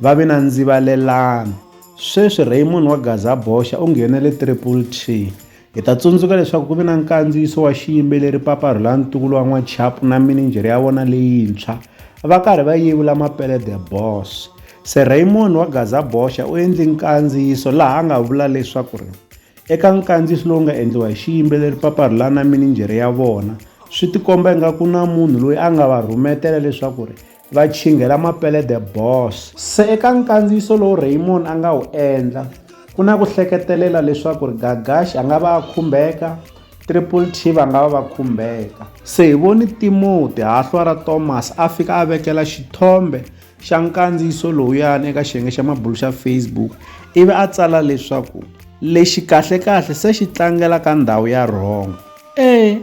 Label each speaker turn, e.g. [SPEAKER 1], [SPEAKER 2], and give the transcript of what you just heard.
[SPEAKER 1] Va vi na ndzivalelano. Sweswi Raymond wa Gaza Boxa u nghene le Triple T. Hi ta tsundzuka leswaku ku vi na nkandziyiso wa xiyimbeleri Papa Rhulani Ntukulu wa N'wachapu na mininjhere ya vona leyintshwa va karhi va yevula Mapele The Boss. Se Raymond wa Gaza Boxa u endli nkandziyiso laha a nga vula leswaku ri eka nkandziyiso lowu nga endliwa hi xiyimbeleri Papa Rhulani na mininjhere ya vona swi tikomba ingaku na munhu loyi a nga va rhumetela leswaku ri Va chinghela mapelede boss. Se eka nkandziyiso lowu Raymond a nga wu endla, ku na ku hleketelela leswaku ri Gagashi a nga va a khumbeka, Triple T va nga va va khumbeka. Se hi voni Timoti, hahlwa ra Thomas, a fika a vekela xithombe xa nkandziyiso lowuyani eka xiyenge xa mabulu xa Facebook ivi a tsala leswaku, Lexi kahle-kahle se xi tlangela ka ndhawu ya wrong. E.